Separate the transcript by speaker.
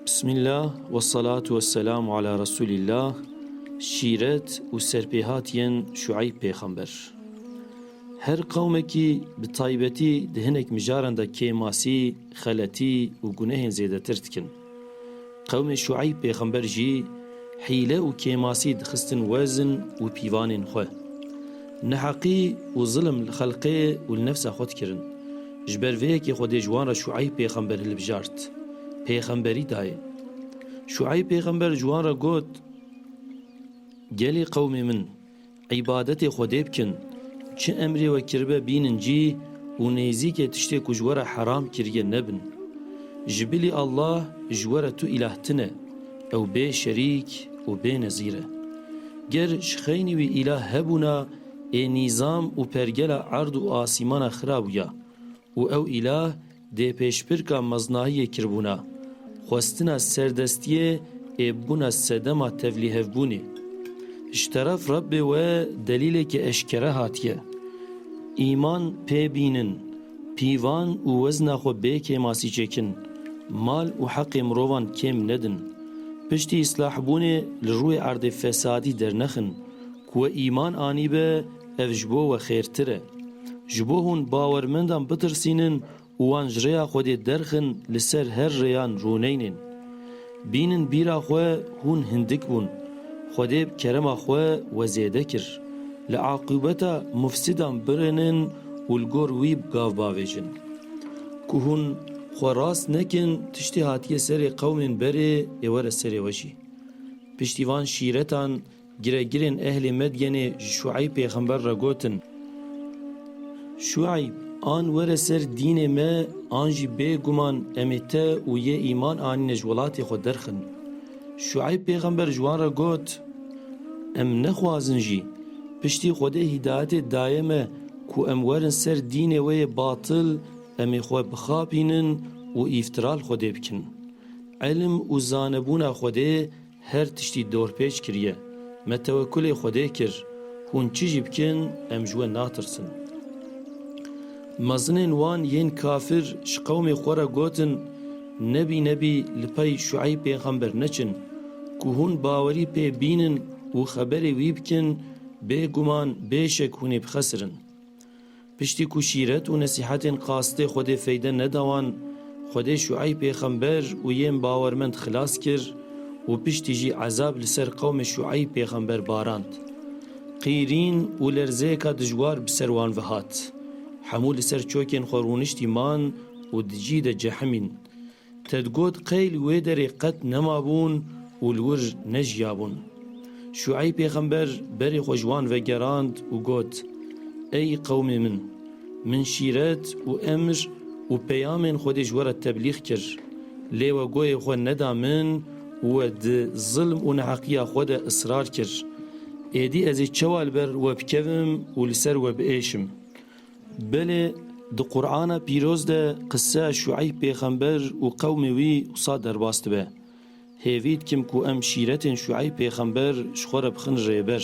Speaker 1: Bismillah ve selatu ve selamu ala Resulillah Şîret û serpêhatiyên Şueyb pêxember Her qewmekî bi taybetî di hinek mijaran de kêmasî, xeletî û gunehên zêdetir dikin. Qewmê Şueyb pêxember jî hîle û kêmasî dixistin wezn û pîvanên xwe. Neheqî û zilm li xelqê û li nefsa xwe dikirin. Ji ber vê yekê Xwedê ji wan re Şueyb pêxember hilbijart. Pêxemberî dayê. Şueyb pêxember ji wan re got, Gelê qewmê min! Îbadetê Xwedê bikin. Çi emrê we kiribe bînin cî û nêzîkê tiştê ku ji we re heram kiriye nebin. Ji bilî Allah ji we re tu îlah tine, ew bê şerîk û bê nezîr e. Ger ji xeynî wî îlah hebûna ê nîzam û pergela erd û asîmana xira bûya Û ew îlah dê pêşbirka meznahiyê kirbûna, xwestina serdestiyê ê bûna sedema tevlîhevbûnê. Ji teref Rebbê we delîleke eşkere hatiye. Îman pê bînin, pîvan û wezna xwe bê kêmasî çêkin, mal û heqê mirovan kêm nedin, piştî îslahbûnê li rûyê erdê fesadî dernexin Ku we îman anîbe ev ji bo we xêrtir e. Ji bo hûn bawermendan bitirsînin û wan ji rêya Xwedê derxin li ser her rêyan rûneynên. Bînin bîra xwe hûn hindik bûn. Xwedê bi kerema xwe we zêde kir. Li aqûbeta mufsîdan birinin û li gor wî bi gav bavêjin. Ku hûn xwe rast nekin tiştê hatiye serê qewmên berê ê were serê we jî. Piştî van şîretan Giregirên ehlê Medyenê ji Şueyb pêxember re gotin, Şueyb, an were ser dînê me an jî bê guman em ê te û yê îman anîne ji welatê xwe derxin. Şueyb pêxember ji wan re got, Em nexwazin jî, piştî Xwedê hîdayetê daye me ku em werin ser dînê we yê batil, em ê xwe bixapînin û îftira li Xwedê bikin. Îlim û zanebûna Xwedê, Her tiştî dorpêç kiriye. Me tewekulê Xwedê kir, hûn çi jî bikin em ji we natirsin. Mezinên wan yên kafir ji qewmê xwe re gotin, Nebî nebî li pey Şueyb pêxember neçin, ku hûn bawerî pê bînin û xeberê wî bikin, bêguman bê şek hûn ê bixesirin. Piştî ku şîret û nesîhetên qastê Xwedê feyde neda wan, Xwedê Şueyb pêxember û yên bawermend xilas kir û piştî jî ezab li ser qewmê Şueyb pêxember barand. Qîrîn û lerzeyeka dijwar bi ser wan ve hat. Hemû li ser çokên xwe rûniştî man û di cî de cehimîn. Te digot qey li wê derê qet nemabûn û li wir nejiyabûn. Şueyb pêxember berê xwe ji wan ve gerand û got, Ey qewmê min! Min şîret û emr û peyamên Xwedê ji we re teblîx kir, lê we goyê xwe neda min û we di zilm û neheqiya xwe de israr kir. Êdî ez ê çawa li ber we bikevim û li ser we biêşim? Belê di Qur'ana pîroz de qisseya Şueyb pêxember û qewmê wî wisa derbas dibe, Hêvî dikim ku em şîretên Şueyb pêxember ji xwe re bixin rêber.